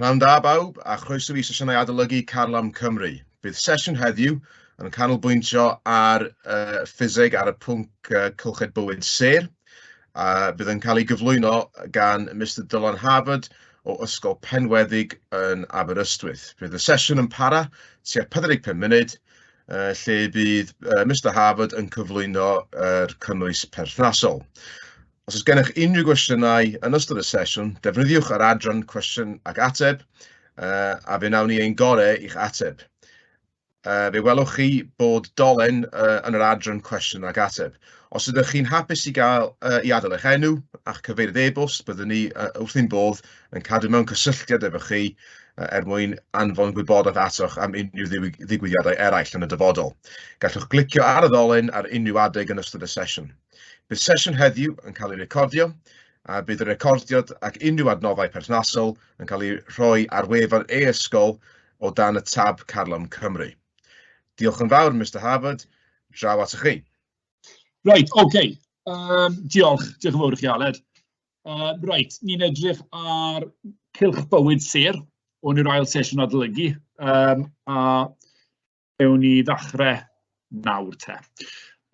Pnawn da bawb a chroeso i sesiynau adolygu Carlam Cymru. Bydd sesiwn heddiw yn canolbwyntio ar uh, ffiseg ar y pwnc uh, cylched bywyd ser. A uh, bydd yn cael ei gyflwyno gan Mr Dylan Harvard o Ysgol Penweddig yn Aberystwyth. Bydd y sesiwn yn para tua 45 munud uh, lle bydd uh, Mr Harvard yn cyflwyno'r er cynnwys perthnasol. Os oes gennych unrhyw gwestiynau yn ystod y sesiwn, defnyddiwch yr adran cwestiwn ac ateb, uh, a fe wnawn ni ein gorau i'ch ateb. Uh, fe welwch chi bod dolen uh, yn yr adran cwestiwn ac ateb. Os ydych chi'n hapus i, gael, uh, i adael eich enw a'ch cyfeiriad e-bost, byddwn ni uh, wrth ein bodd yn cadw mewn cysylltiad efo chi uh, er mwyn anfon gwybodaeth atoch am unrhyw ddigwyddiadau eraill yn y dyfodol. Gallwch glicio ar y ddolen ar unrhyw adeg yn ystod y sesiwn. Bydd sesiwn heddiw yn cael ei recordio, a bydd y recordiad ac unrhyw adnoddau perthnasol yn cael eu rhoi ar wefan e-ysgol o dan y tab Carlam Cymru. Diolch yn fawr, Mister Harwood, draw atoch chi. Reit, ocê. Okay. Um, diolch, diolch yn fawr i chi, Aled. Uh, reit, ni'n edrych ar cylch bywyd sir o'n i'r ail sesiwn adolygu, um, a Ewn ni ddechrau nawr te.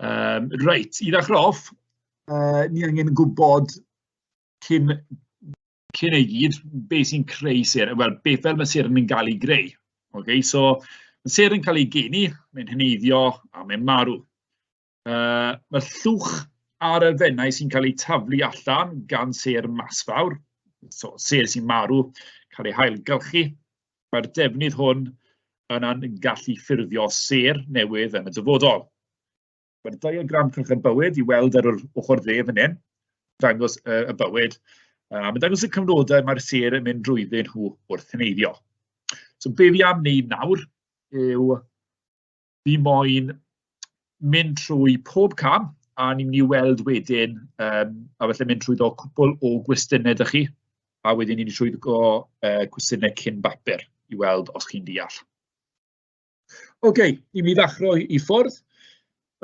Um, reit, i ddechrau off, uh, ni angen gwybod cyn, cyn ei gyd beth sy'n creu ser, wel, beth fel mae ser yn cael ei greu. Okay? So, mae ser yn cael ei geni, mae'n heneiddio a mae'n marw. Yy, mae'r llwch a'r elfennau sy'n cael eu taflu allan gan sêr masfawr, so sêr sy'n marw, cael eu hailgylchu. Mae'r defnydd hwn yna'n gallu ffurfio sêr newydd yn y dyfodol. Mae'r diagram cylch y bywyd i weld ar yr ochr dde fan hyn, dangos y, y bywyd, a mae'n dangos y cyfnodau mae'r sêr yn mynd drwyddyn nhw wrth heneiddio. So be fi am wneud nawr yw Fi moyn mynd trwy pob cam, a ni'n mynd i weld wedyn, um, a felly mynd trwy ddo cwbl o gwestiynau ydych chi, a wedyn ni'n mynd trwy ddo uh, cwestiynau cyn bapur i weld os chi'n deall. Oce, okay, i mi ddechrau i ffwrdd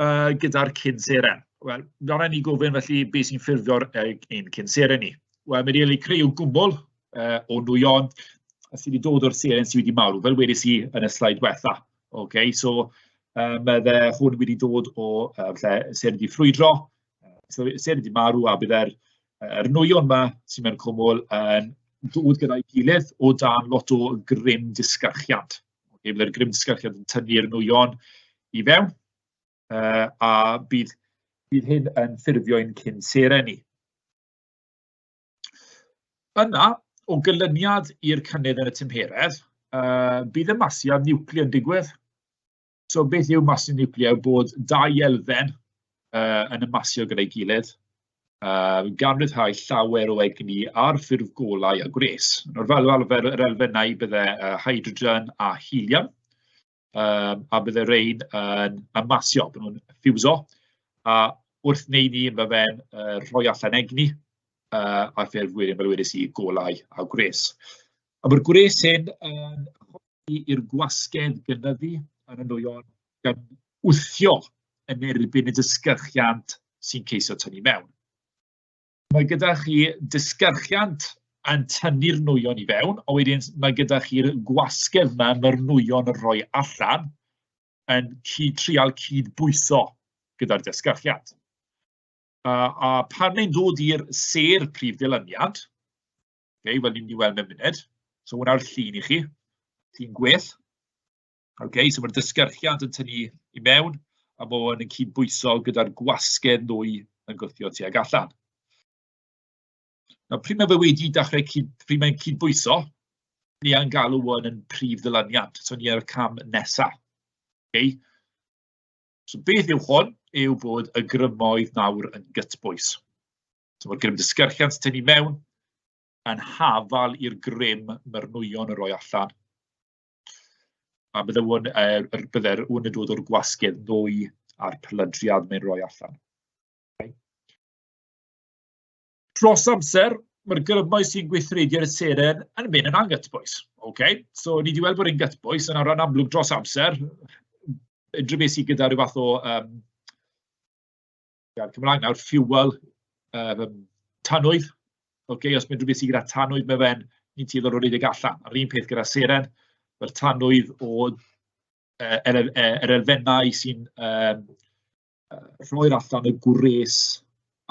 uh, gyda'r cyn seren. Wel, nawr ni gofyn felly beth sy'n ffurfio'r ein cyn seren ni. Wel, mae'n rili creu gwmwl uh, o nwyon a sydd wedi dod o'r seren sydd wedi marw, fel wedys i yn y slaid wetha. Ok so yym mae fe... hwn wedi dod o yy lle Seren Dŷ Ffrwydro, so Seren Dŷ Marw, a byddai'r yr nwyon 'ma sy mewn cwmwl yn dod gyda'i gilydd o dan lot o gryn disgyrchiant, ok byddai'r gryn disgyrchiant yn tynnu'r nwyon i fewn, yy a bydd bydd hyn yn ffurfio ein cyn seren ni. Yna, o gynlyniad i'r cynnydd yn y tymheredd, yy bydd y masu niwclear yn digwydd. So beth yw masu niwclear? Bod dau elfen yy yn y masio gyda'i gilydd, yy gan ryddhau llawer o egni ar ffurf golau a gwres. Nawr fel arfer yr elfennau byddai yy hydrogen a helium. yym a byddai rain yn yn masio, bod nhw'n ffiwso, a wrth wneud 'ny ma' fe'n yy rhoi allan egni, yy a fel wedes i, golau a gwres. A ma'r gwres hyn yn helpu i'r gwasgedd gynyddu yn y nwyon, gan wthio yn erbyn y disgyrchiant sy'n ceisio tynnu mewn. Mae gyda chi disgyrchiant yn tynnu'r nwyon i fewn, a wedyn mae gyda chi'r gwasgedd 'ma ma'r nwyon yn rhoi allan, yn cyd- trial cyd-bwyso gyda'r disgyrchiant. A a pan mae'n dod i'r sêr prif ddilyniant, okay, fel ni'n mynd i weld mewn munud, so hwnna'r llun i chi, llun gwell. Ok, so ma'r disgyrchiant yn tynnu i mewn, a ma' hwn yn cydbwyso gyda'r gwasgedd nwy yn gwthio tuag allan. Nawr pryd mae fe wedi dechrau cyd- pryd mae'n cydbwyso, ni yn galw hwn yn prif ddyluniad, so ni ar y cam nesa. Ok. So beth yw hwn? Yw bod y grymoedd nawr yn gytbwys. So mae'r grym disgyrchiant tynnu mewn yn hafal i'r grym mae'r nwyon yn rhoi allan. A bydde hwn yy yr... bydde'r ŵyn yn dod o'r gwasgedd nwy a'r pelydriad mae'n roi allan. Dros amser, mae'r grymoedd sy'n gweithredu ar y seren yn mynd yn anghytbwys. Ocê, so ni 'di weld bod e'n gytbwys, a nawr yn amlwg dros amser, unrhyw beth sy gyda ryw fath o yym... gair Cymraeg nawr, fuel yym tanwydd, ocê, os unrhyw beth sy gyda tanwydd mewn fe'n ni'n tueddu o redeg allan. A'r un peth gyda seren, mae'r tanwydd o yy yr e- yr elfennau sy'n yym yy rhoi'r allan y gwres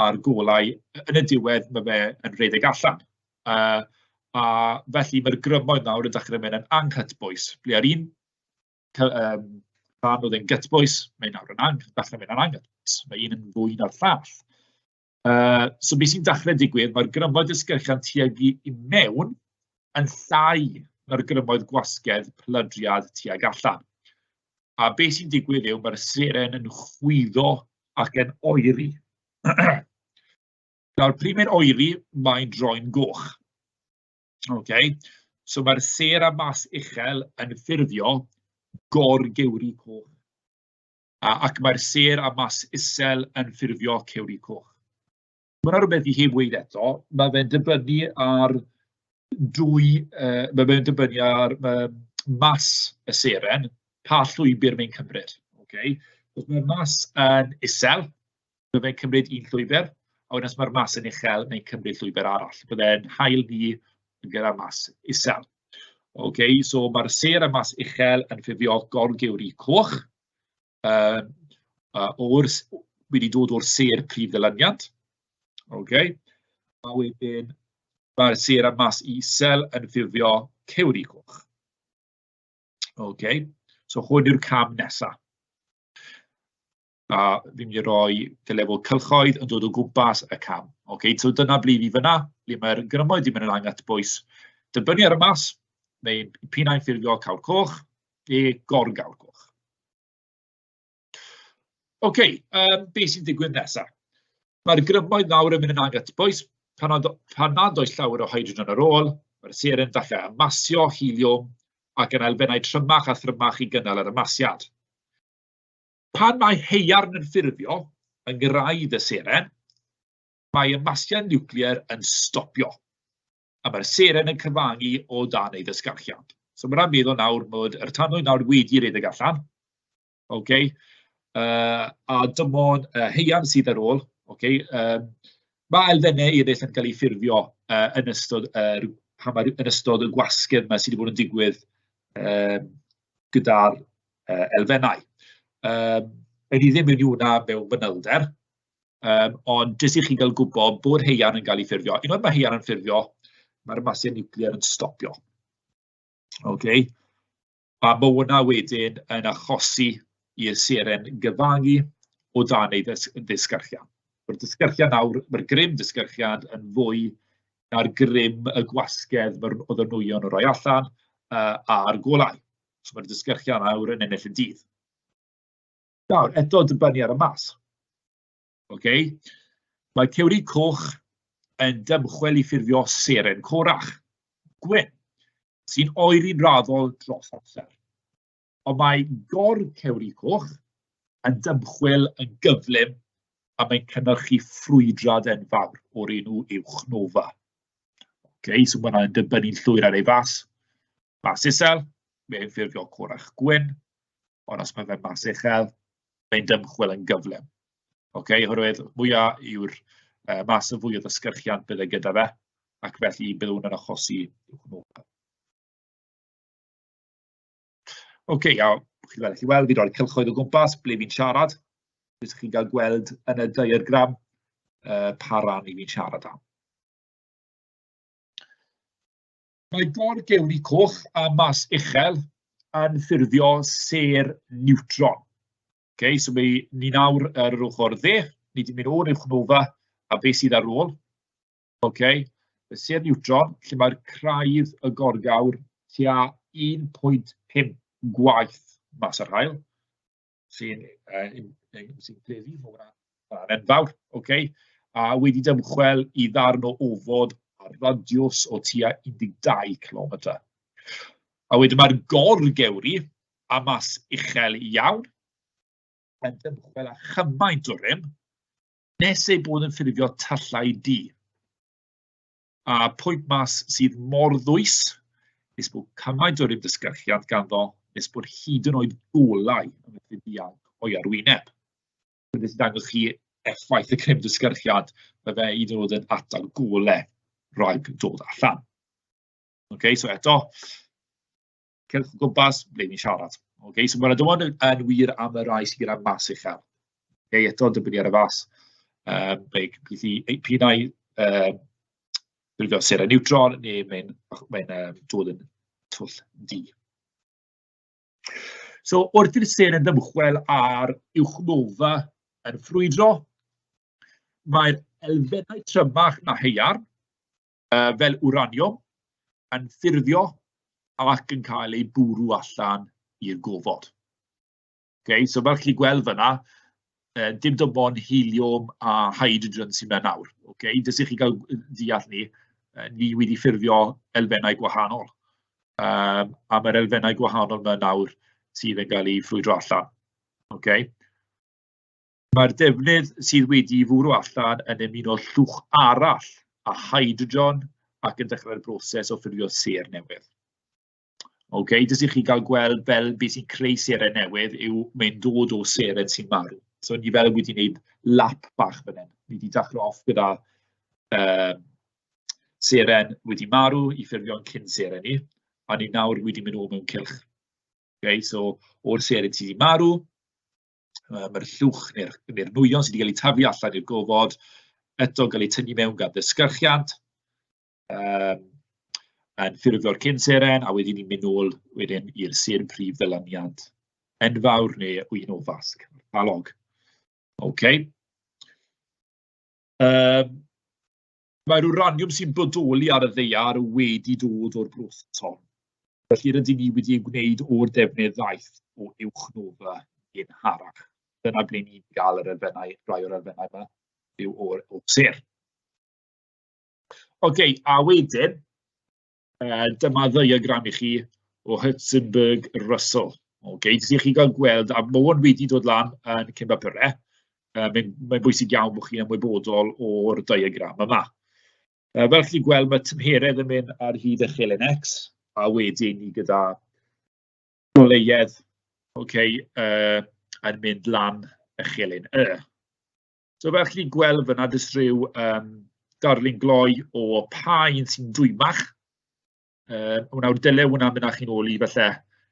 a'r golau, yn y diwedd ma' fe yn redeg allan. Yy a felly mae'r grymoedd nawr yn dechrau mynd yn anghytbwys, ble a'r un... cy- yym rhan oedd e'n gytbwys, mae nawr yn ang- dechrau mynd yn anghytbwys, mae un yn fwy na'r llall. Yy so be sy'n dechrau digwydd, mae'r grymoedd disgyrchiant tuag i i mewn yn llai na'r grymoedd gwasgedd plydriad tuag allan. A be sy'n digwydd yw mae'r seren yn chwyddo ac yn oeri. Nawr, pryd mae'n oeri, mae'n droi'n goch. Ok, so mae'r sêr a mas uchel yn ffurfio gor-gewri coch. A, ac mae'r sêr a mas isel yn ffurfio cewri coch. Mae'n yna rhywbeth i chi wneud eto, mae fe'n dibynnu ar dwy, uh, mae fe'n dibynnu ar uh, mas y seren, pa llwybr mae'n cymryd. Okay? Os mae'r mas yn isel, Byddai'n cymryd un llwybr, a wedyn os mae'r mas yn uchel, mae'n cymryd llwybr arall. Byddai'n hael ni yn gyrraedd mas isel. Ok, so mae'r sêr a mas uchel yn ffurfio gorgewri coch. Um, uh, o'r, wedi dod o'r sêr prif ddylyniant. Ok, a wedyn mae'r sêr a mas isel yn ffurfio cewri coch. Ok, so hwn yw'r cam nesaf. a fi'n mynd i roi y lefel cylchoedd yn dod o gwmpas y cam. Ocê, so dyna ble 'y ni fan'na, ble mae'r grymoedd 'di mynd lan at bwys dibynnu ar y maes, neu p'un ai ffurfiol cawl coch neu gor-gawl coch. Ocê, yym be sy'n digwydd nesaf? Mae'r grymoedd nawr yn mynd yn agos at bwys, pan nad pan nad oes llawer o hydrogen ar ôl, mae'r seren falle yn masio heliwm ac yn elfennau trymach a thrymach i gynnal yr ymasiad. Pan mae haearn yn ffurfio yng ngwraidd y seren, mae y masgiad niwclear yn stopio, a mae'r seren yn cyfangu o dan ei ddysgarchiad. So mae'n rhaid meddwl nawr bod yr tanwydd nawr wedi rhedeg allan, okay? uh, a dim ond uh, heian sydd ar ôl. Okay? Um, mae elfennau eraill yn cael eu ffurfio uh, yn, ystod, uh, pan yn ystod y gwasgedd yma sydd wedi bod yn digwydd uh, gyda'r yy elfennau. Yym wna i ddim mynd mewn i hwnna mewn fanylder, yym ond jyst i chi gael gwybod bod haearn yn cael ei ffurfio. Unwaith mae haearn yn ffurfio, mae'r masau niwclear yn stopio. Ok, a ma' hwnna wedyn yn achosi i'r seren gyfangu o dan ei ddys- ddisgyrchiant. Ma'r disgyrchiant nawr, ma'r grym disgyrchiant yn fwy na'r grym y gwasgedd ma'r... oedd y nwyon yn rhoi allan yy a'r golau. So mae'r disgyrchion aur yn ennill y dydd. Nawr, eto dibynnu ar y math. Ocê? Mae cewri coch yn dymchwel i ffurfio seren corach, gwyn, sy'n oeri'n raddol dros amser. Ond mae gor cewri coch yn dymchwel yn gyflym a mae'n cynnyrchu ffrwydrad enfawr o'r enw uwch nofa. Okay, so mae'n dibynnu'n llwyr ar ei fas. mas isel, mae'n ffurfio corach gwyn, ond os mae fe'n mas uchel, mae'n dymchwel yn gyflym. Ok, oherwydd mwya yw'r uh, mas y fwy o ddysgyrchiant bydd e gyda fe, ac felly bydd hwn yn achosi hwnnw. Ok, iawn, chi'n gallu weld, fi roi'r cylchoedd o gwmpas, ble fi'n siarad, beth chi'n cael gweld yn y diagram, uh, pa ran i fi'n siarad am. Mae Bord Gelli Coch a Mas Uchel yn ffurfio sêr niwtron. Ok, so mae ni nawr ar yr ochr dde, ni wedi mynd o'r uwchnolfa a beth sydd ar ôl. Ok, y sêr niwtron lle mae'r craidd y gorgawr tua 1.5 gwaith mas o'r haul. sy'n pleiddu fod yn enfawr, ok, a wedi dymchwel i ddarn o ofod ar radiws o tua 12 kilometr. A wedyn mae'r gorgewri a mas uchel iawn yn dymchwel â chymaint o rym nes ei bod yn ffurfio tyllau du. A pwynt mas sydd mor ddwys, nes bod cymaint o'r ymdysgyrchiant ganddo, nes bod hyd yn oed golau yn methu dianc o'i arwyneb. Dwi'n jyst dangos chi effaith y crym dysgyrchiad, fe fe hyd yn oed yn atal golau rhag dod allan. OK, so eto, cerwch o gwmpas, ble ni'n siarad. Okay, so mae'r dywod yn wir am y rai sydd gyda mas uchel. Okay, eto, dibynnu ar y fas. Um, ble beth i, pyn ai um, gwylio sera niwtron neu mae'n mae um, dod yn twll di. So, wrth i'r ser yn ymchwel ar uwchnofa yn ffrwydro, mae'r elfennau trymach na heiar, yy fel wraniwm, yn ffurfio ac yn cael ei bwrw allan i'r gofod. Okay, so fel chi'n gweld fyna, uh, dim dim ond helium a hydrogen sy'n mynd nawr. Okay? Dys i chi gael deall ni, uh, ni wedi ffurfio elfennau gwahanol. Um, a mae'r elfennau gwahanol yma nawr sydd yn cael ei ffrwydro allan. Okay? Mae'r defnydd sydd wedi fwrw allan yn ymuno llwch arall â hydrogen ac yn dechrau'r broses o ffurfio ser newydd. Ok, jyst i chi gael gweld fel beth sy'n creu serau newydd yw mae'n dod o serau sy'n marw. So ni fel wedi gwneud lap bach fan hyn. Ni wedi daclo off gyda uh, seren wedi marw i ffurfio'n cyn seren ni, a ni nawr wedi mynd o mewn cylch. Okay, so o'r seren sydd wedi marw, Yym yr uwch neu'r neu'r nwyon sy 'di cael eu taflu allan i'r gofod, eto'n cael eu tynnu mewn gan ddisgyrchiant, yym yn ffurfio'r cyn seren, a wedyn ni'n mynd nôl wedyn i'r sêr prif ddyluniad enfawr neu un o fasg analog. Ocê yym. Mae'r wraniwm sy'n bodoli ar y ddaear wedi dod o'r broton, felly rydyn ni wedi ei wneud o'r defnydd ddaeth o uwch nofa yn harach. Dyna ble ni'n gael yr elfennau, rhai o'r elfennau yma, yw o'r, o'r ser. OK, a wedyn, Uh, dyma ddiagram i chi o Hutzenberg Russell. Okay, jyst i chi gael gweld, a mae hwn wedi dod lan yn Cymba Pyrre, uh, mae'n mae bwysig iawn bod chi'n ymwybodol o'r diagram yma. Uh, fel chi'n gweld, mae tymheredd yn mynd ar hyd y chelen X, a wedyn ni gyda goleiedd okay, uh, yn mynd lan y chelen Y. So fel chi'n gweld fyna, jyst rhyw um, darlun gloi o pa un sy'n dwymach. Um, Wnaw'r dylai hwnna mynd â chi'n ôl i falle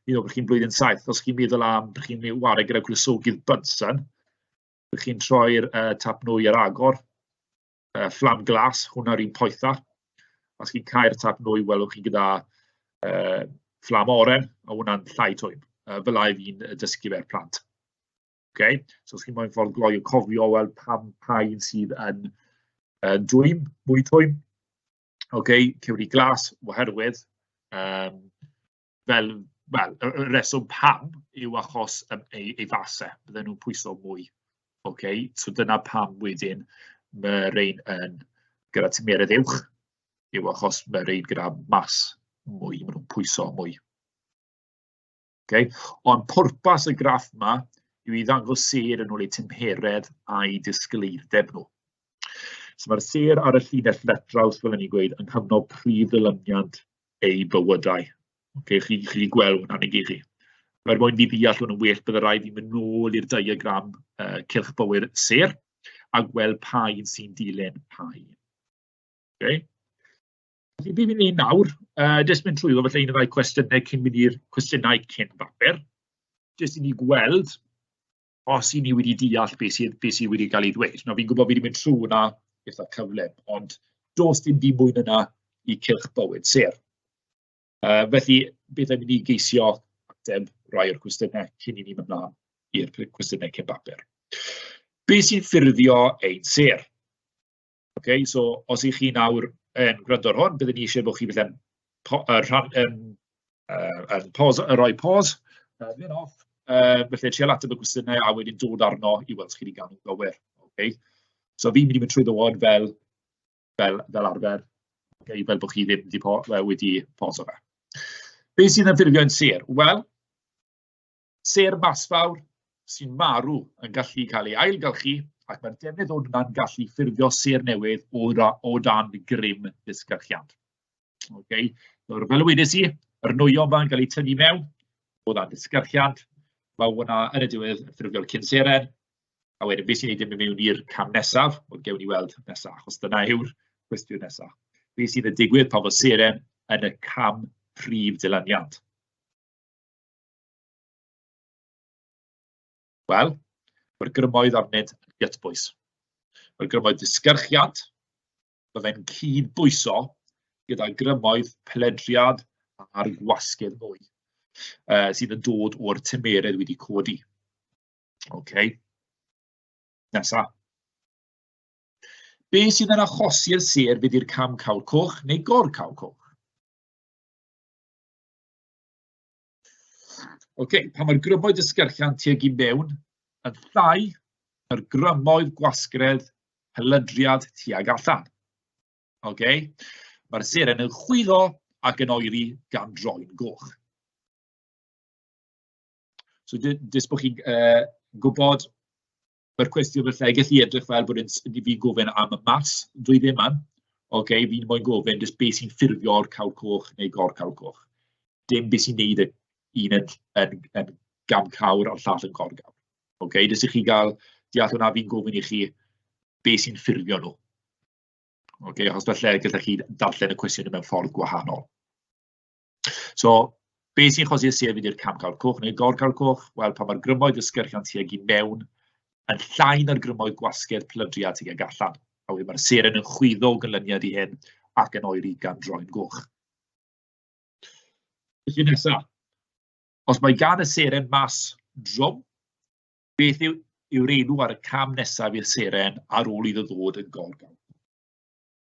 un o bod chi'n blwyddyn saith, os chi'n meddwl am bod chi'n wario gyda gwlesogydd Bunsen, bod chi'n troi'r uh, tap nwy ar agor, uh, fflam glas, hwnna'r un poetha. Os chi'n cael tap nwy, welwch chi gyda uh, fflam oren, a hwnna'n llai twym. Uh, fel a'i fi'n dysgu fe'r plant. Okay? So os chi moyn ffordd gloi o cofio, wel, pam pa un sydd yn, yn dwym, mwy twym. Okay? Cewri glas, oherwydd, um, fel, wel, y reswm pam yw achos um, ei, ei fasau, bydden nhw'n pwyso mwy. Okay? So dyna pam wedyn mae rhain yn gyda tymheredd uwch, yw achos mae rhain gyda mas mwy, maen nhw'n pwyso mwy. ok. Ond pwrpas y graff 'ma yw i ddangos sêr yn ôl eu tymheredd a'u disgleirdeb nhw. So mae'r sêr ar y llinell letraws, fel o'n i'n gweud, yn cyfnod prif ddilyniant eu bywydau. Okay, chi, chi gweld hwnna'n ei gyd chi. Mae'r mwyn i ddeall hwnnw'n well, byddai rhaid i mynd nôl i'r diagram uh, cylch bywyd sêr a gweld pa un sy'n dilyn pa un. Okay? Felly, beth ni'n ei nawr, uh, jyst mynd trwy falle un o ddau cwestiynau cyn mynd i'r cwestiynau cyn bapur, jyst i ni gweld os i ni wedi deall beth sydd, beth sydd wedi cael ei ddweud. Nawr, fi'n gwybod fi wedi mynd trwy hwnna eitha cyflym, ond dos dim byd mwy yna i cylch bywyd ser. Uh, felly, beth am i ni geisio ateb rai o'r cwestiynau cyn i ni mynd mlaen i'r cwestiynau cyn bapur. Be sy'n ffurfio ein ser? Ok, so os 'y chi nawr yn gwrando ar hwn, bydden ni isie bod chi falle'n po- yy rhan- yn yy yn pos- yn rhoi pos, yy mynd off, yy felly trial ateb y cwestiynau a wedyn dod arno i weld os chi 'di ga'l nhw'n gywir, ok? So fi'n mynd i mynd trwy dy ward fel fel fel arfer, ok, fel bod chi ddim 'di po- yy wedi poso fe. Be sydd yn ffurfio yn sêr? Wel... Sêr masfawr sy'n marw yn gallu cael ei ailgylchu ac mae'r defnydd o hwnna'n gallu ffurfio sêr newydd o, o dan grym disgyrchiant. Okay. Nawr, fel y wedes i, yr nwyom fa'n cael eu tynnu mewn o dan disgyrchiant, mae hwnna yn y diwedd yn ffurfio'r cyn seren, A wedyn, beth sy'n ei ddim yn mewn i'r cam nesaf, ond gewn ni weld nesaf, achos dyna yw'r cwestiwn nesaf. Beth sydd yn digwydd pan fo seren yn y cam prif dylaniant? Wel, mae'r grymoedd arnynt yn gytbwys. Mae'r grymoedd disgyrchiant, byddai'n cyd-bwyso gyda grymoedd peledriad a'r gwasgedd mwy uh, sydd yn dod o'r tymeredd wedi codi. OK. Nesa. Be sydd yn achosi'r ser fydd i'r cam cawl coch neu gor cawl coch? Ok, pan mae'r grymoedd yn sgrechian tuag i mewn, yn llai na'r grymoedd gwasgredd hylydriad tuag allan. Ok, mae'r seren yn chwyddo ac yn oeri gan droi'n goch. So, jyst bod chi'n uh, gwybod Mae'r cwestiwn falle yn gallu edrych fel bod e'n s- i fi gofyn am y math flwyddyn 'ma, ocê, fi moyn gofyn jyst be sy'n ffurfio'r cawr coch neu gor-cawr coch, dim be sy'n wneud y un yn yn yn gam cawr a'r llall yn gor-gawr, ocê, jyst i chi gael deall hwnna, fi'n gofyn i chi be sy'n ffurfio nhw, ocê, achos falle gallech chi darllen y cwestiwn mewn ffordd gwahanol. So be sy'n cosi'r siefyd i'r camgawr coch neu'r gorcawr coch? Wel, pan mae'r grymoedd ysgyrchiant tuag i mewn yn llai na'r grymoedd gwasgedd plydriad tuag allan. A wedyn mae'r seren yn chwyddo o gynlyniad i hyn ac yn oeri gan droi'n goch. Felly nesaf, os mae gan y seren mas drom, beth yw yw'r enw ar y cam nesaf i'r seren ar ôl iddo ddod yn gorgawr?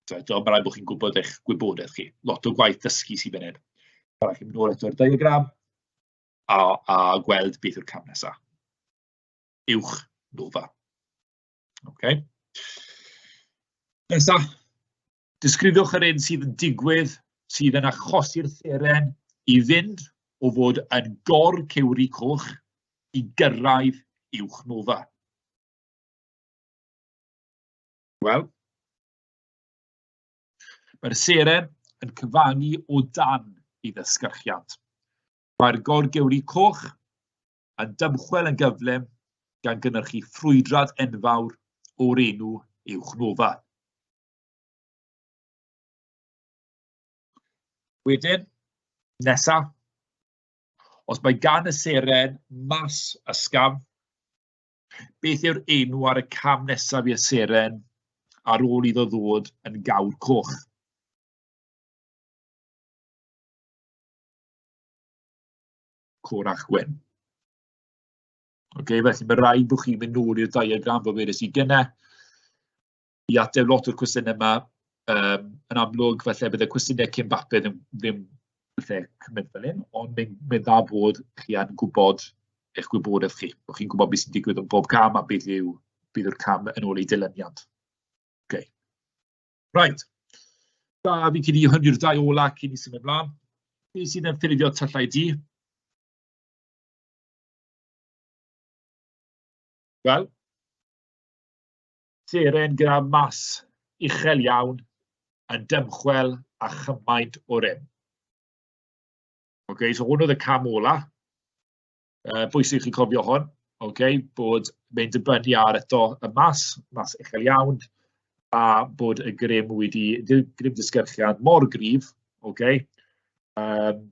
Tibod, ond mae'n rhaid bod chi'n gwybod eich gwybodaeth chi. Lot o gwaith dysgu sy'n fan hyn. Mae'n rhaid i chi mynd nôl eto'r diagram a, a gweld beth yw'r cam nesaf. Uwch nova. Okay. Nesa, disgrifiwch yr un sydd yn digwydd, sydd yn achosi'r seren i fynd o fod yn gor cewri coch i gyrraedd uwch nova. Wel, mae'r seren yn cyfangu o dan ei ddysgyrchiant. Mae'r gorgewri coch yn dymchwel yn gyflym gan gynhyrchu ffrwydrad enfawr o'r enw uwch nofa. Wedyn, nesaf, os mae gan y seren mas ysgafn, Beth yw'r enw ar y cam nesaf i'r seren ar ôl iddo ddod yn gawr coch? Corach Gwen. Ok, felly mae rhaid bod chi'n mynd nôl i'r diagram fel wedys i gynnau. i ateb lot o'r cwestiynau 'ma, yym yn amlwg falle bydd y cwestiynau cyn bapur ddim ddim falle cymryd fel hyn, ond mae'n mae'n dda bod chi yn gwybod eich gwybodaeth chi, bod chi'n gwybod beth sy'n digwydd yn bob cam a beth yw... beth yw'r cam yn ôl i dilyniant. Ok. Right. Da, fi'n credu hwn yw'r dau ola cyn i symud ymlaen. Be sydd yn ffurfio tyllau di? Wel, Seren gyda mass uchel iawn yn dymchwel a chymaint o rym. Okay, so hwn oedd y cam ola. Uh, bwysig chi cofio hwn, okay, bod mynd dibynnu ar eto y mas, mas uchel iawn, a bod y grym wedi, grym disgyrchiad mor grif, okay, um,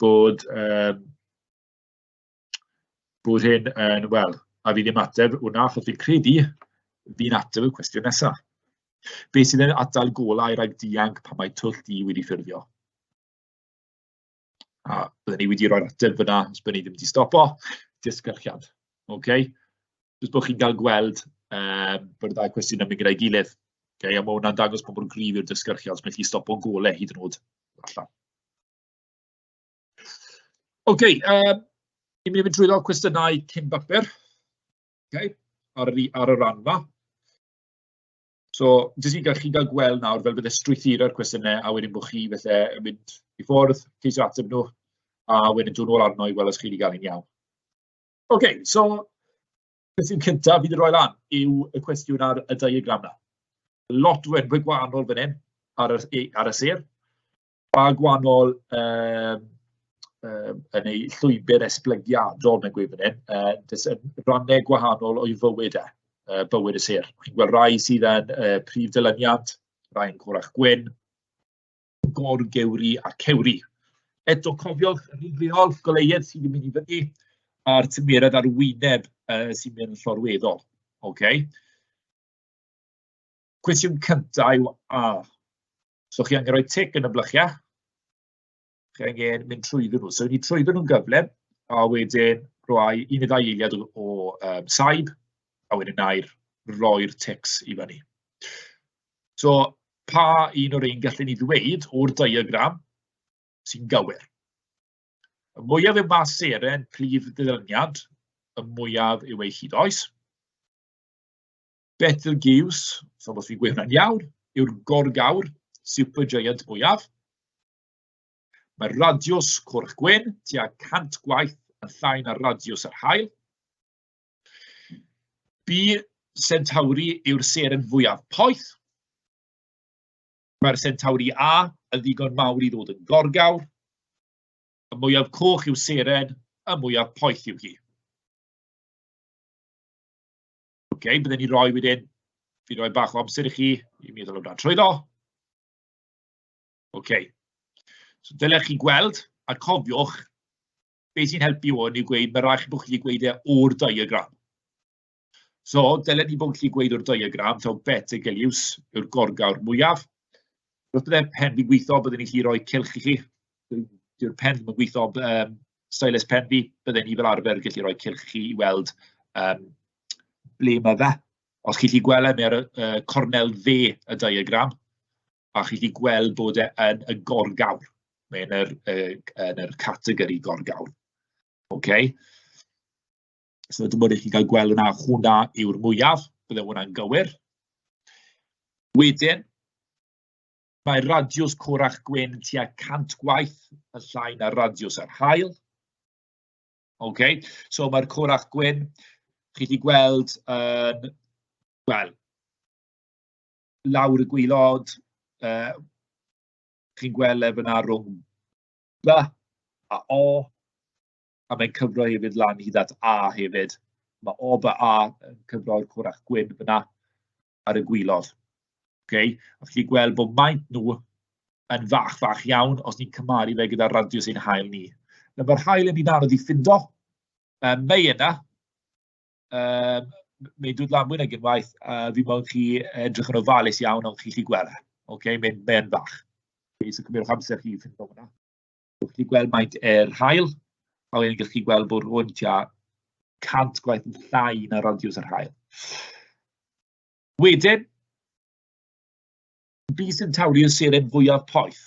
bod um, bod hyn yn, wel, a fi ddim ateb hwnna, achos fi'n credu fi'n ateb y cwestiwn nesaf. Be sydd yn adael golau rhaid dianc pan mae twll di wedi ffurfio? A byddwn ni wedi rhoi'r ateb fyna, os byddwn ni ddim wedi stopo, disgyrchiad. Okay? Jyst bod chi'n cael gweld um, bod y ddau cwestiwn yn mynd gyda'i gilydd. Okay? A mae hwnna'n dangos pobl gryf i'r disgyrchiad, os mae chi stopo'n golau hyd yn oed allan. Ok, yy ni'n mynd i fynd trwyddo cwestiynau cyn bapur, ok, ar y ar y ran 'ma. So jyst i gael chi gael gweld nawr fel byddai strwythura'r cwestiynau, a wedyn bod chi falle yn mynd i ffwrdd, ceisio ateb nhw, a wedyn dod nôl arno i weld os chi 'di gael e'n iawn. Ok, so cwestiwn cynta fi 'di roi lan yw y cwestiwn ar y diagram 'na. Lot o enwau gwahanol fan hyn ar y ar y sêr. Ba gwahanol yy yy yn ei llwybr esblygiadol, mae'n gweud fan hyn, yy jyst yn rannau gwahanol o'i fywyd e, yy bywyd y sêr. Chi'n gweld rai sydd yn yy prif ddilyniant, rhai'n gorach gwyn, gor-gewri a cewri. Eto cofiwch yr un reol goleuedd sydd yn mynd i fyny a'r tymheredd ar wyneb yy sy'n mynd yn llorweddol, ocê? Cwestiwn cyntaf yw a... so chi angen rhoi tic yn y blychiau, chi angen mynd trwyddyn nhw. So i ni trwyddyn nhw'n gyflym, a wedyn rhoi un neu ddau eiliad o o yym saib, a wedyn wna i roi'r tics i fyny. So pa un o'r rhein gallen ni ddweud o'r diagram sy'n gywir? Y mwyaf yw mas seren prif ddilyniant, y mwyaf yw ei hyd oes. Betelgeuse, fel bod fi'n gweud hwnna'n iawn, yw'r gorgawr supergiant mwyaf. Mae radiws cwrch gwyn tua 100 gwaith yn llai na radiws yr haul. Bu Centauri yw'r seren fwyaf poeth. Mae'r Centauri A yn ddigon mawr i ddod yn gorgawr. Y mwyaf coch yw seren, y mwyaf poeth yw hi. Ok, bydden ni'n rhoi wedyn... fi'n rhoi bach o amser i chi i meddwl amdano trwyddo. Ok, so fel o'ch chi'n gweld, a cofiwch, be sy'n helpu hwn yw gweud, ma' raid chi bod chi 'di gweud e o'r diagram. So, dylen ni fod yn gallu gweud o'r diagram taw vertical use yw'r gorgawr mwyaf. Wrth byddai'r pen yn gweithio, byddwn ni'n gallu rhoi cylch i chi, Dwi... 'di'r pen ddim yn gweithio, ond yym stylus pen fi, bydden i fel arfer yn gallu rhoi cylch i chi i weld yym ble ma' fe. Os chi'n gallu gweld e, mae ar y y cornel dde y diagram, a chi'n gallu gweld bod e yn y gorgawr, mae e yn yr yy yn yr categori gorgawr, ok? So dim ond i chi gael gweld hwnna, hwnna yw'r mwyaf, byddai hwnna'n gywir. Wedyn... Mae radiws corach gwyn yn tua 100 gwaith yn llai na radiws yr haul. Ok, so mae'r corach gwyn, chi wedi gweld yn, uh, wel, lawr y gwylod, uh, chi'n gweld le fyna rhwng B a O, a mae'n cyfro hefyd lan hyd at A hefyd. Mae O by A yn cyfro'r corach gwyn fyna. ar y gwylod. Ok, a chi'n gweld bod maint nhw yn fach, fach iawn os ni'n cymaru fe gyda'r radius ein hael ni. Na, mae'r hael yn ni'n anodd i ffindo. Um, mae yna. Um, mae'n dod lan mwy nag unwaith. Uh, fi mo'n chi edrych yn ofalus iawn ond chi chi gweld. E. Ok, mae'n mae fach. Okay, so cymryd amser chi i ffindo hwnna. Dach chi'n gweld faint yr haul, a wedyn dach chi'n gweld bod hwn tua 100 gwaith yn llai na radiws yr haul. Wedyn, Bee Centauri yw'r seren fwyaf poeth.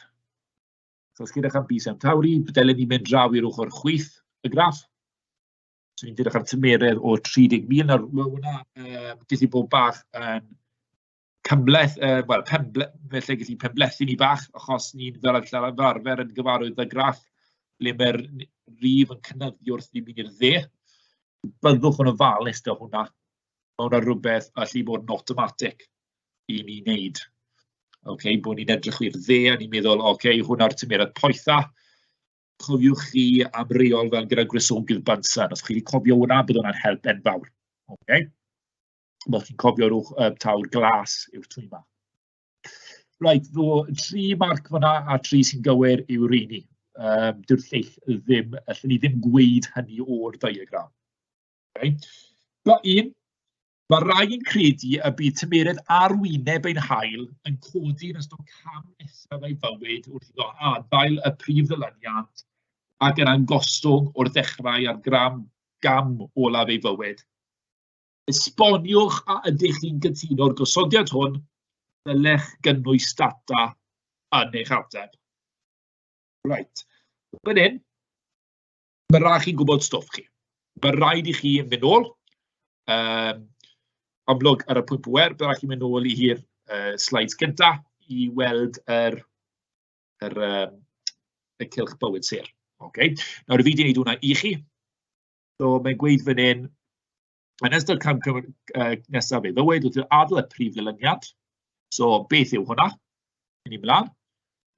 So, os chi'n edrych am Bee Centauri, dylen ni mynd draw i'r ochr chwith y graff. So, ni'n edrych ar tymeredd o 30,000 nawr. Mae hwnna, um, dyllu bod bach yn cymhleth, yy, wel, penble- felly lle ges i penblethu ni bach, achos ni'n fel fel arfer yn gyfarwydd â graff le mae'r n- rif yn cynyddu wrth i ni mynd i'r dde. Byddwch yn ofalus 'da hwnna. Ma' hwnna rwbeth all bod yn awtomatig i ni wneud. Ocê, bod ni'n edrych i'r dde a ni'n meddwl, "ocê, hwnna'r tymheredd poetha." Cofiwch chi am reol fel gyda gwresogydd Bunsen, os chi 'di cofio hwnna, bydd hwnna'n help enfawr, ocê? fel chi'n cofio, rhyw yy tawr glas yw'r twy 'ma. Reit, so tri marc fan'na a tri sy'n gywir yw'r rheiny. Yym dyw'r lleill ddim... allwn ni ddim gweud hynny o'r diagram. Reit? Dot un, ma' rai yn credu y bydd tymheredd arwyneb ein haul yn codi yn ystod cam nesaf ei fywyd wrth iddo adael y prif ddilyniant ac yna'n gostwng o'r dechrau ar gram gam olaf ei fywyd. Esboniwch a ydych chi'n cytuno'r gosodiad hwn, dylech gynnwys data yn eich ateb. Right. Fan hyn, mae rhaid chi gwybod stwff chi. Mae rhaid i chi mynd ôl, um, amlwg ar y pwynt bwer, byddai chi'n mynd ôl i hi'r uh, slides gynta i weld yr, yr, um, y cilch bywyd sir. Okay. Nawr, fi wedi gwneud hwnna i chi. So mae'n gweud fan hyn, yn ystod cam cam uh, nesaf ei ddywed wrth adael y prif ddilyniant. So beth yw hwnna? Yn ei mlaen.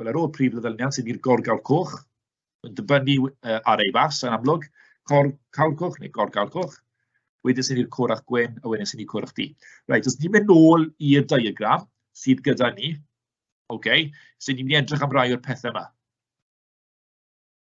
Wel, ar ôl prif ddilyniant sydd i'r gorgawr coch, yn dibynnu uh, ar ei fas yn amlwg, cor, cawr coch neu gorgawr coch, wedyn sy'n i'r corach gwen a wedyn sy'n i'r corach di. Right, os ni'n mynd nôl i'r diagram sydd gyda ni, okay, sy'n ni'n mynd i edrych am rai o'r pethau yma.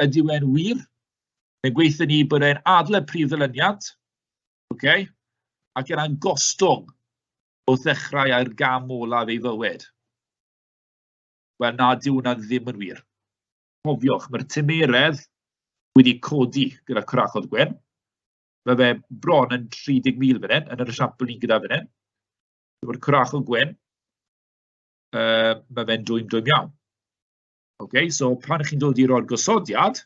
Ydyw e'n wir? Fe gweithio ni bod e'n adle prif ddylyniant, okay? ac yna'n gostwng o ddechrau â'r gam olaf ei fywyd. Wel, na, dyw hwnna ddim yn wir. Cofiwch, mae'r tymeredd wedi codi gyda cwrachod gwyn. Mae fe bron yn 30,000 fan hyn, yn yr esiampl ni'n gyda fan hyn. Mae'r cwrachod gwyn, uh, mae fe'n dwym dwym iawn. Ok, so pan ych chi'n dod i roi'r gosodiad,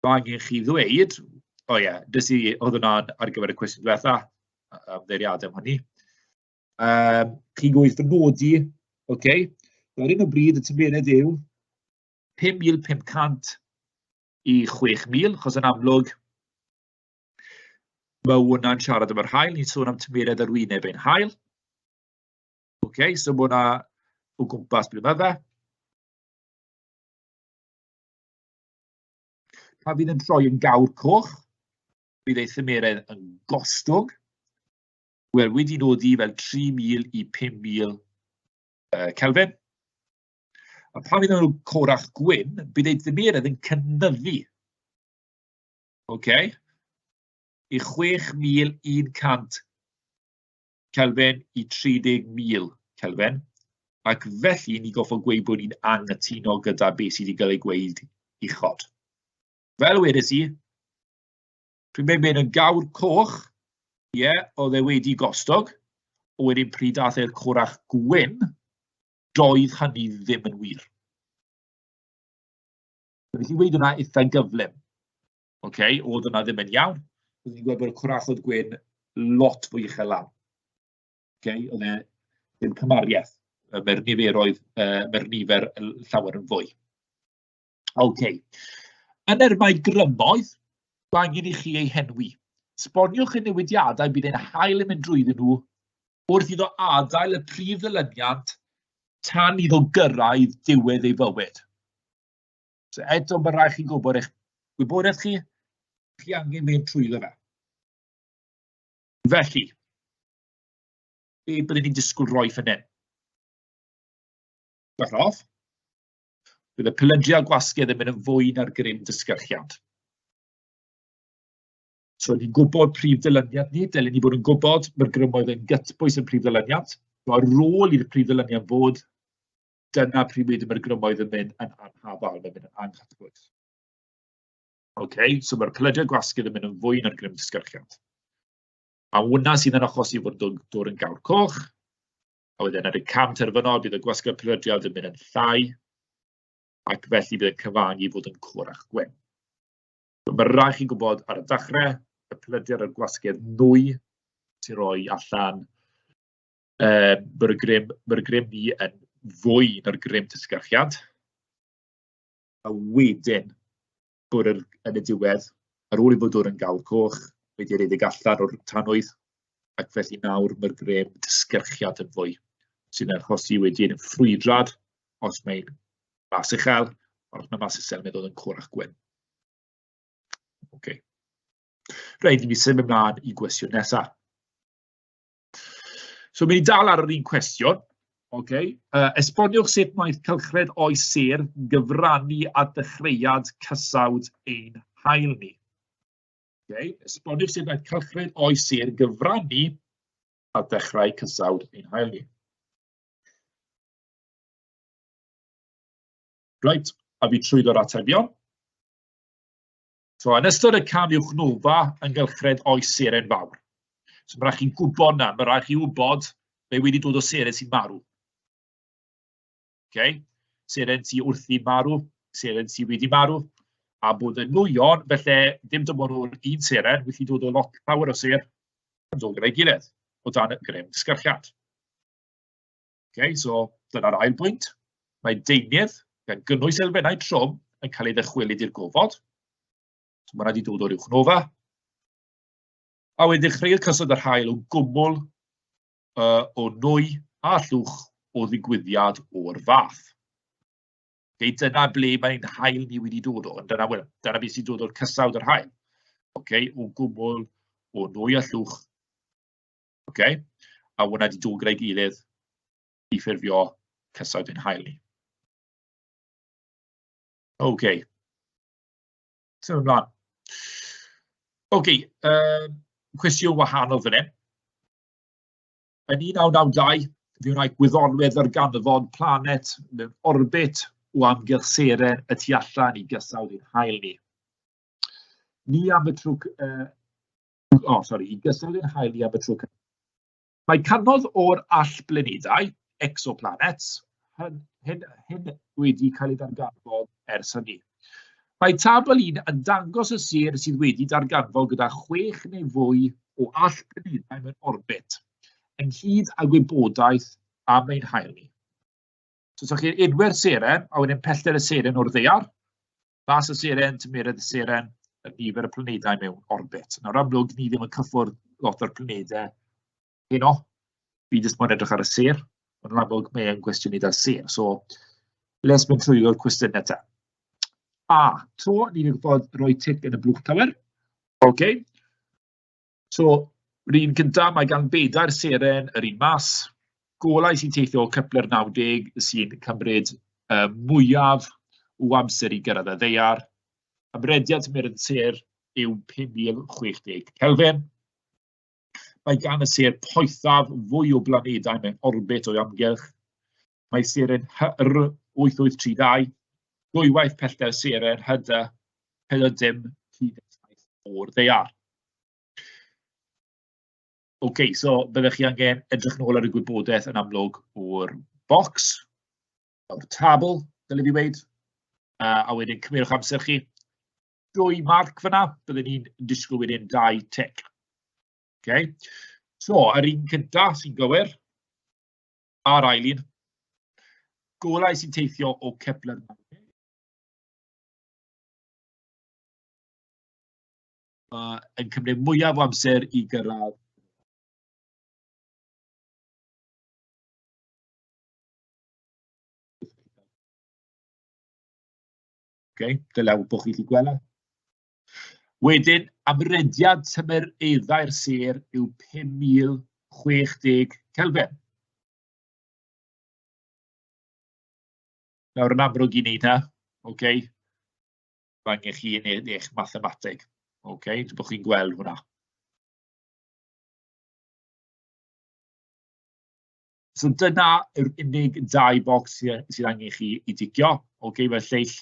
mae angen chi ddweud, o oh ie, yeah, dys i, oedd hwnna'n ar gyfer y cwestiwn diwetha, ymddeiriadau am hynny. Um, chi'n gweithio fy nodi, oce, okay. ar un o bryd y tymuned yw 5,500 i 6,000, chos yn amlwg, mae hwnna'n siarad am yr hael, ni'n sôn am tymuned arwyneb ein hael. Ok, so mae hwnna o gwmpas blwyddyn yma fe. Pan fydd yn troi yn gawr coch, bydd ei thymeredd yn gostwng. Wel, wedi nodi fel 3,000 i 5,000 uh, Kelvin. A pan fydd nhw'n corach gwyn, bydd ei dymeredd yn cynyddu. OK? I 6,100 Kelvin i 30,000 Kelvin, ac felly ni goffo gweud bod ni'n anghytuno gyda beth sydd wedi cael ei gweud uchod. Fel wedes i, pryd mae'n mynd yn gawr coch, ie, yeah, oedd e wedi gostog, o wedyn pryd dath e'r corach gwyn, doedd hynny ddim yn wir. Felly wedi wedi hwnna eitha gyflym. Ok, oedd hwnna ddim yn iawn. Roeddwn i'n gweld bod y cwrachod gwyn lot fwy uchel lawr. Ok, oedd e ddim cymariaeth. Mae'r niferoedd, yy mae'r nifer llawer yn fwy. Ok. Yn yr mae grymoedd, mae angen i chi eu henwi. Sboniwch y newidiadau bydd ein hael yn mynd drwyddyn nhw wrth iddo adael y prif ddylyniant tan iddo gyrraedd diwedd ei fywyd. So eto, mae'n rhaid chi gwybod eich gwybodaeth chi, chi angen mynd trwyddo fe. Felly, be byddwn ni'n disgwyl roi fan hyn? Bach off. Bydd y pylydriau a gwasgiau ddim yn fwy na'r grym dysgyrchiant. So, ni'n gwybod prif ddylyniant ni, dylen ni bod yn gwybod mae'r grymoedd yn gytbwys yn prif ddylyniant. Mae'r rôl i'r prif ddylyniant fod dyna pryd mae mae'r grymoedd yn mynd yn anhafal, mae'n mynd yn anghyffrous. Ok, so mae'r pellediau gwasgudd yn mynd yn fwy na'r grym disgyrchiant. A hwnna sydd yn achosi fod dod, dod yn gawr coch, a wedyn ar y cam terfynol bydd y gwasgu'r pellediad yn mynd yn llai, ac felly bydd yn cyfangu fod yn corach gwen. So, mae rhaid chi gwybod ar y dechrau, y pellediad a'r gwasgu'r nwy sy'n rhoi allan yy bod y grym bod y grym ni yn fwy na'r grym tysgarchiad, a wedyn bod yr yn y diwedd, ar ôl i fod yn gael coch, wedi rhedeg allan o'r tanwydd, ac felly nawr mae'r grym tysgarchiad yn fwy, sy'n archosi wedyn ffrwydrad os mae'n mas uchel, ond os mae'n mas uchel, mae'n dod yn corach gwyn. Okay. Rhaid i mi symud ymlaen i gwestiwn nesaf. So, mi ni dal ar yr un cwestiwn. Okay. Uh, esboniwch sut mae cylchred o'i sir gyfrannu a dechreuad cysawd ein hael ni. Okay. Esboniwch sut mae cylchred o'i sir gyfrannu a dechrau cysawd ein hael ni. Right, a fi trwy ddod atebion. So, yn ystod y cam i'w chnwlfa yng nghylchred oes seren fawr. So, mae rhaid chi'n gwybod na, mae rhaid chi wybod be wedi dod o seren sy'n marw. Okay? Seren sy'n wrthi marw, seren sy'n wedi marw, a bod yn nwyon, felly dim dim ond o'r un seren, wedi dod o lot llawer o ser yn dod gyda'i gilydd, o dan y grym sgyrchiad. Okay, so dyna'r ail bwynt. Mae deunydd, gan gynnwys elfennau trwm, yn cael ei ddychwelyd i'r gofod. So mae yna wedi dod o'r uwch nofa. A wedyn dechreuodd cyswllt yr hael o gwmwl uh, o nwy a llwch o ddigwyddiad o'r fath. Okay, dyna ble mae'n hael ni wedi dod o, dyna, well, dyna beth sy'n dod o'r cysawd yr hael. Okay, o gwmwl o nwy a llwch Ocê, a hwnna 'di dod gyda'i gilydd i ffurfio cysoedd ein haul ni. OK. Symud ymlaen. OK, um, cwestiwn wahanol fan hyn. Yn 1992, fe wna'i gwyddonwyd ar ganfod planet mewn orbit o amgylch seren y tu allan i gysawd i'n hael ni. Ni am y trwg uh, o sori, i gystal i'r haul i am y tro cyntaf. Mae cannoedd o'r allblanedau, exoplanets, hyn, hyn, hyn wedi cael ei ddarganfod ers hynny. Mae tabl un yn dangos y sir sydd wedi darganfod gyda chwech neu fwy o allblanedau mewn orbit, ynghyd â gwybodaeth am ein hael ni. So, so chi'n edwyr seren, a wedyn pellter y seren o'r ddeiar, Bas y Seren, Tymeredd y Seren, y nifer y planedau mewn orbit. Nawr amlwg, ni ddim yn cyffwrdd lot o'r planedau heno. Fi jyst moyn edrych ar y ser, ond yn amlwg mae e'n gwestiynau da ser. So, les mynd trwy o'r cwestiynau ta. A, to, ni wedi bod rhoi tic yn y blwch tawer. OK. So, yr un gynta, mae gan bedair seren yr un math, golau sy'n teithio o Kepler 90 sy'n cymryd yy mwyaf o amser i gyrraedd y ddaear. Ymrediad tymheredd y sêr yw 5060 Kelvin. Mae gan y sêr poethaf fwy o blanedau mewn orbit o'i amgylch. Mae Seren HY-R 8832 ddwywaith pellter Seren HY-DA 47 o'r ddaear. OK, so byddech chi angen edrych nôl ar y gwybodaeth yn amlwg o'r bocs, o'r tabl, dyle fi weud, a a wedyn cymerwch amser chi. Dwy marc fan'na, byddwn ni'n disgwyl wedyn dau tic. OK, so yr un cynta sy'n gywir, a'r ail un, golau sy'n teithio o Kepler uh, yn cymryd mwyaf o amser i gyrraedd Okay, dylai bod chi wedi gweld e. Wedyn, amrediad tymereddau'r sêr yw 5060 Kelvin. Nawr, yn amlwg i wneud hynna, ok, mae angen chi yn e-, eich mathemateg. Ok, dwi'n bod chi'n gweld hwnna. So dyna yr unig dau bocs sydd angen chi i dicio. Ok, mae lleill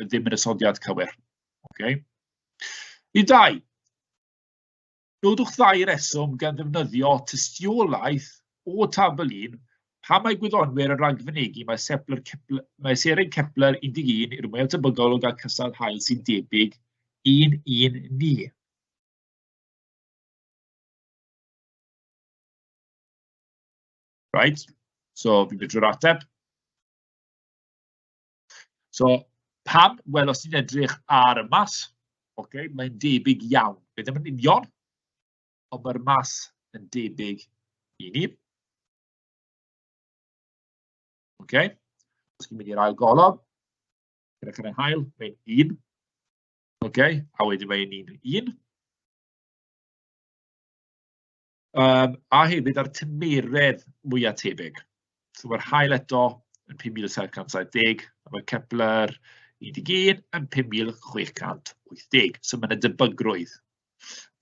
yn ddim yn ysodiad cywir. Okay? I dau, nodwch ddau reswm gan ddefnyddio tystiolaeth o tabl 1 pam mae gwyddonwyr yn ragfynegu mae, Sepler Kepler, mae Seren Kepler 11 i'r mwyaf tebygol o gael cystal hael sy'n debyg i'n un ni. Right, so fi'n mynd drwy'r ateb. So, pam? Wel, os ti'n edrych ar y math, okay, mae'n debyg iawn. Fe ddim yn union, ond mae'r math yn debyg i ni. Okay. Os chi'n mynd i'r ail golofn, gyda chan yr hael, mae'n un. Okay. A wedyn mae'n un, un. Yym a hefyd a'r tymheredd mwya tebyg, so ma'r haul eto yn 5770, a ma' Kepler un deg un yn 5680. So ma' 'na debygrwydd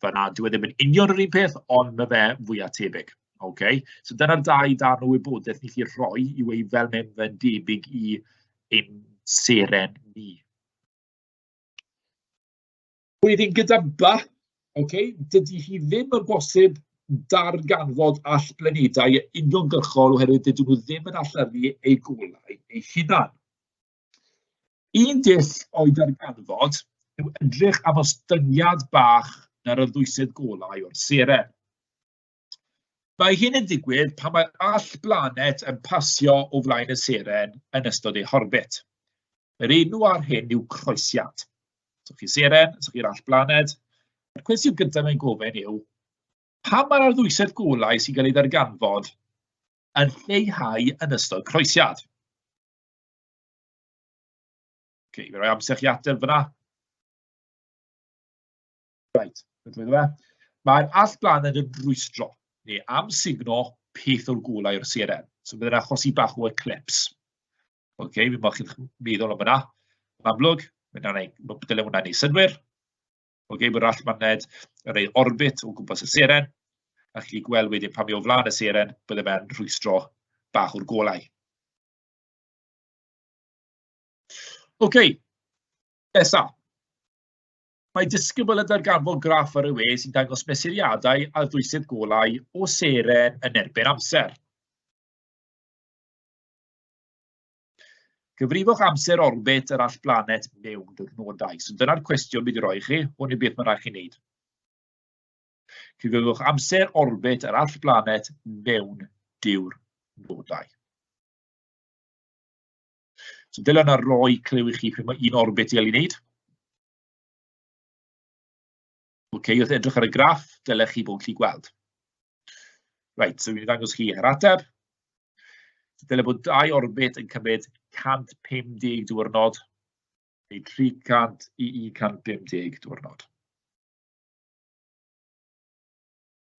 fan'na, dyw e ddim yn union yr un peth, ond ma' fe fwya tebyg, ocê? So dyna'r dau darn o wybodaeth ni 'llu rhoi i weud fel mae fe'n debyg i ein seren ni. Wedyn gyda By, ocê, dydy hi ddim yn bosib darganfod allblanedau uniongyrchol oherwydd dydyn nhw ddim yn allyru eu golau eu hunain. Un dull o'i darganfod yw edrych am ostyngiad bach yn yr ddwysedd golau o'r seren. Mae hyn yn digwydd pan mae all blanet yn pasio o flaen y seren yn ystod ei horbit. Yr enw ar hyn yw croesiad. So chi seren, so chi'r all blaned. Yr cwestiwn gyntaf mae'n gofyn yw, pam mae'r arddwysedd golau sy'n cael ei ddarganfod yn lleihau yn ystod croesiad? okay, fe roi amser chi ateb fyna. Reit, ydw i iddo fe. Mae'r allblaned yn rwystro, neu amsugno, peth o'r golau o'r CRM. So bydd yna i bach o eclips. OK, fi'n bod chi'n meddwl am hwnna. Yn amlwg, dylai hwnna ei synwyr. OK, mae'r allblaned yn rhoi orbit o gwmpas y seren. A chi gweld wedyn pan mi o flaen y seren, bydde fe'n rhwystro bach o'r golau. OK, nesaf. Mae disgybl yn darganfod graff ar y we sy'n dangos mesuriadau a ddwysydd golau o seren yn erbyn amser. Cyfrifwch amser orbit yr all blanet mewn diwrnodau. So dyna'r cwestiwn bydd i roi chi, hwn i beth mae'n rhaid chi wneud. Cyfrifwch amser orbit yr all blanet mewn diwrnodau. So dyle hwnna roi clyw i chi pryd mae un orbit i gael ei wneud. OK, wrth edrych ar y graff, dylech chi bod yn gallu gweld. Right, so fi'n dangos chi yr ateb. Dyle bod dau orbit yn cymryd 150 diwrnod, neu 300 i 150 diwrnod.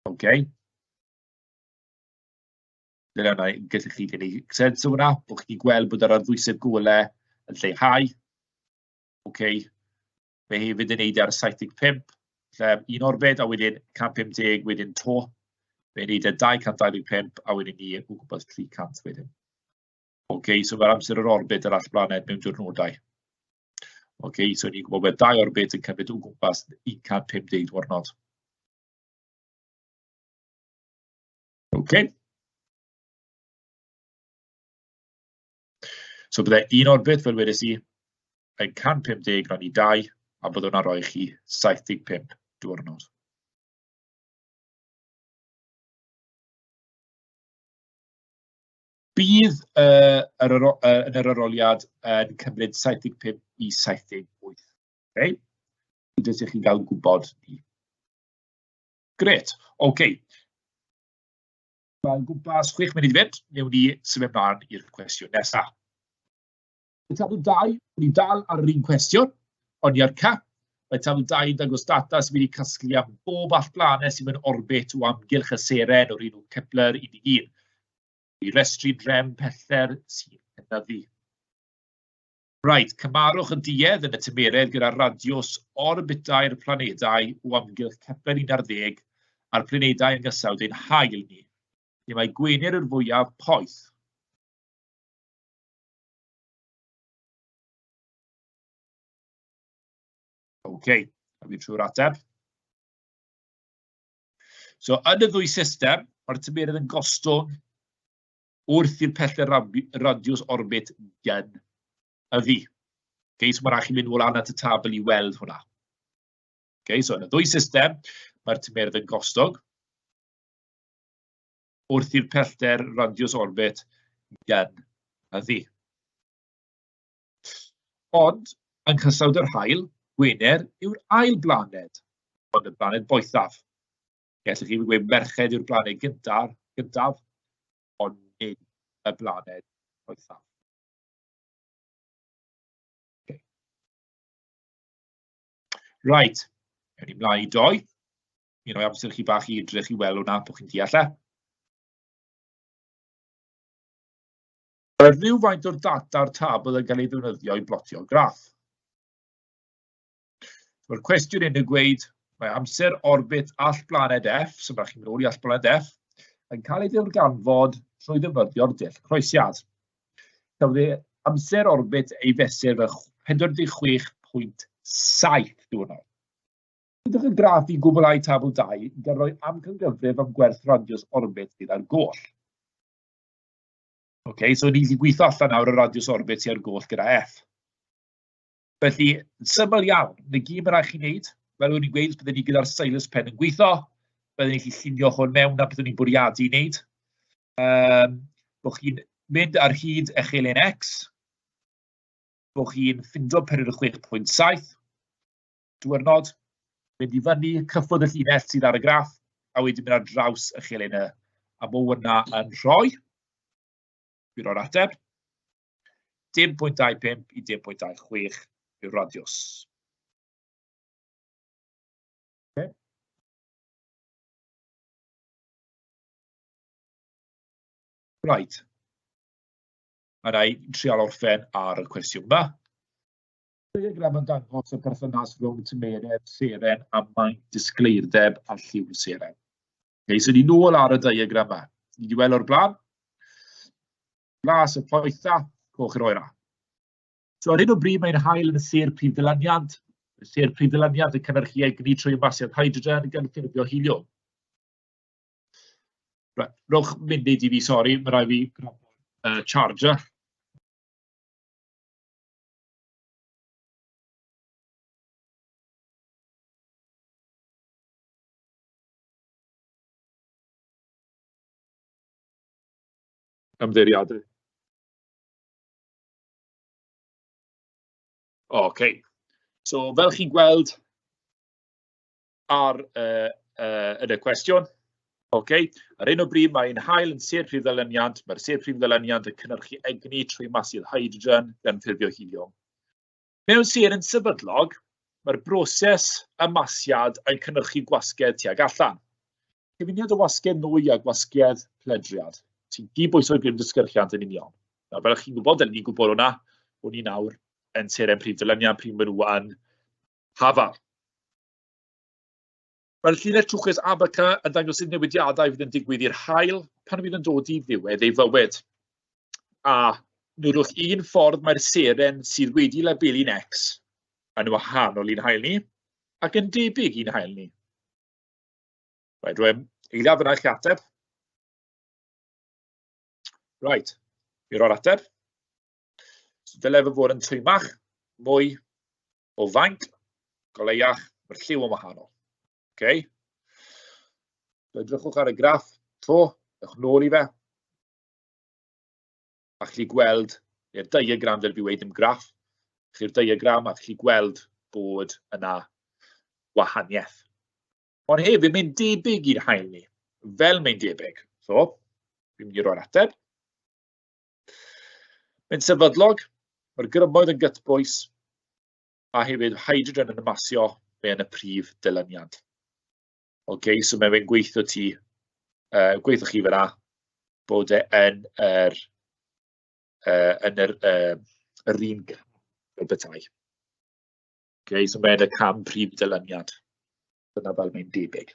OK. Dyna fo, yn gallu chi gynnig sens o hwnna, bod chi'n gweld bod yr ar ddwysedd golau yn lleihau, ok, mae hefyd yn wneud e ar 75, lle un orbed a wedyn 150 wedyn 'to, mae'n wneud e 225 a wedyn ni o gwmpas 300 wedyn. Ok, so mae'r amser yr orbed yr all blaned mewn diwrnodau. Ok, so ni'n gwybod bod dau orbed yn cymryd o gwmpas 150 diwrnod. Ok. So byddai un orbit, fel wedes i, yn 150 rhan i 2, a byddwn hwnna'n rhoi chi 75 diwrnod. Bydd uh, yr, uh, yn yr aroliad yn cymryd 75 i 78. Okay? Jyst i chi gael gwybod ni. Grêt, ok. Mae o'n gwmpas chwech munud i fynd, wnewn ni symud ymlaen i'r cwestiwn nesaf. Mae tabl 2, ni'n dal ar yr un cwestiwn, ond i'r cap, mae tabl 2 yn dangos data sydd wedi casglu am bob all blaned sydd mewn orbit o amgylch y seren o'r un o Kepler 11. I restru drem pellter sy'n cynyddu. Reit, cymarwch y duedd yn y tymeredd gyda radiws orbitau'r planedau o amgylch Kepler 11 a'r planedau yn gysawd ein hael ni, lle mae gwener yr fwyaf poeth. OK, a fi trwy'r ateb. So, yn y ddwy system, mae'r tymeredd yn gostwng wrth i'r pellter radiws orbit gyn y fi. Okay, so mae'n rhaid chi mynd ôl at y tabl i weld hwnna. Okay, so yn y ddwy system, mae'r tymerdd yn gostog wrth i'r pellter radiws orbit gyn y fi. Ond, yng nghysawd yr haul, Gwener yw'r ail blaned, ond y blaned boethaf. Ie, so chi'n gweud merched yw'r blaned gyntaf, gyntaf, ond nid y blaned poethaf. Okay. Right, ewn ni mlaen i doi. Mi roi amser chi bach i edrych i weld hwnna, bod chi'n deall e. Mae rhywfaint o'r data'r tabl yn cael ei ddefnyddio i blotio graff. Mae'r cwestiwn yn dweud, mae amser orbit all blaned F, so mae chi'n mynd ôl i all blaned F, yn cael ei ddiwrganfod trwy ddefnyddio'r dull croesiad. Cafodd ei amser orbit ei fesur fe 46.7 diwrnod. Byddwch yn graff i gwblhau tabl 2 gan roi amcangyfrif am gwerth radius orbit gyda'r goll. OK, so ni wedi gweithio allan nawr y radius orbit i'r goll gyda F. Felly, yn syml iawn, yn y gyd mae'n rhaid chi wneud, fel o'n i'n gweud, byddwn ni gyda'r stylus pen yn gweithio, byddwn ni'n gallu llunio hwn mewn a byddwn ni'n bwriadu i wneud. Um, bod chi'n mynd ar hyd eich elen X, bod chi'n ffindo period 6.7, diwrnod, mynd i fyny, cyffwrdd y llinell sydd ar y graff, a wedyn mynd ar draws y chelen y, a bod hwnna yn rhoi, bydd o'r ateb. 10.25 i 10.26 yw'r radiws. Right. A na i trial orffen ar y cwestiwn yma. Diagram yn dangos y perthynas rhwng tymeredd seren a maint disgleirdeb a lliw seren. Neu, so ni nôl ar y diagram yma. Ni wedi weld o'r blaen. Glas y Poetha, Coch yr Oera. So ar hyn o bryd mae'n hael yn y sir prif ddylaniad. Y sir prif ddylaniad yn cynnyrchu egni trwy ymasiad hydrogen gan ffurfio heliwm. Right, rhowch munud i fi, sori, mae rai fi uh, charger. ymddiriedu. Ocê, so fel chi'n gweld ar y y yn y cwestiwn, ocê, ar hyn o bryd mae'n haul yn sir prif ddyluniant, mae'r sir prif ddyluniant yn cynhyrchu egni trwy masydd hydrogen gan ffurfio heliwm. Mewn sêr yn sefydlog, mae'r broses ymasiad yn cynhyrchu gwasgedd tuag allan. Cyfuniad o wasgedd nwy a gwasgedd pledriad, sy'n dibwyso'r grym dysgyrchiant yn union. Nawr, fel ych chi'n gwybod, dyn ni'n gwybod hwnna, bod ni nawr yn seren prif dyluniad pryd maen nhw yn hafal. Mae'r llinell trwchus Abaca yn dangos sut newidiadau fydd yn digwydd i'r haul pan fydd yn dod i ddiwedd ei fywyd. A nodwch un ffordd mae'r seren sydd wedi labelu'n X yn wahanol i'n hael ni ac yn debyg i'n hael ni. Right, rwy'n eiliad yna i chi ateb. Right, mi roi'r ateb. So dyle fe fod yn twymach, mwy o faint, goleiach, mae'r lliw yn wahanol. Ok? Edrychwch ar y graff to, ewch nôl i fe. A chi gweld, neu'r diagram fel fi wedi dim graff, chi'r diagram a chi gweld bod yna wahaniaeth. Ond hefyd, mae'n debyg i'r hael ni, fel mae'n debyg. So, fi'n mynd i roi'r ateb. Mae'n sefydlog, mae'r grymoedd yn gytbwys, a hefyd hydrogen yn masio fe yn y prif dyluniad. OK, so mae fe'n gweithio ti, uh, gweithio chi fyna, bod e yn yr, uh, yn yr, uh, yr un fel bethau. OK, so mae'n y cam prif dyluniad. Dyna fel mae'n debyg.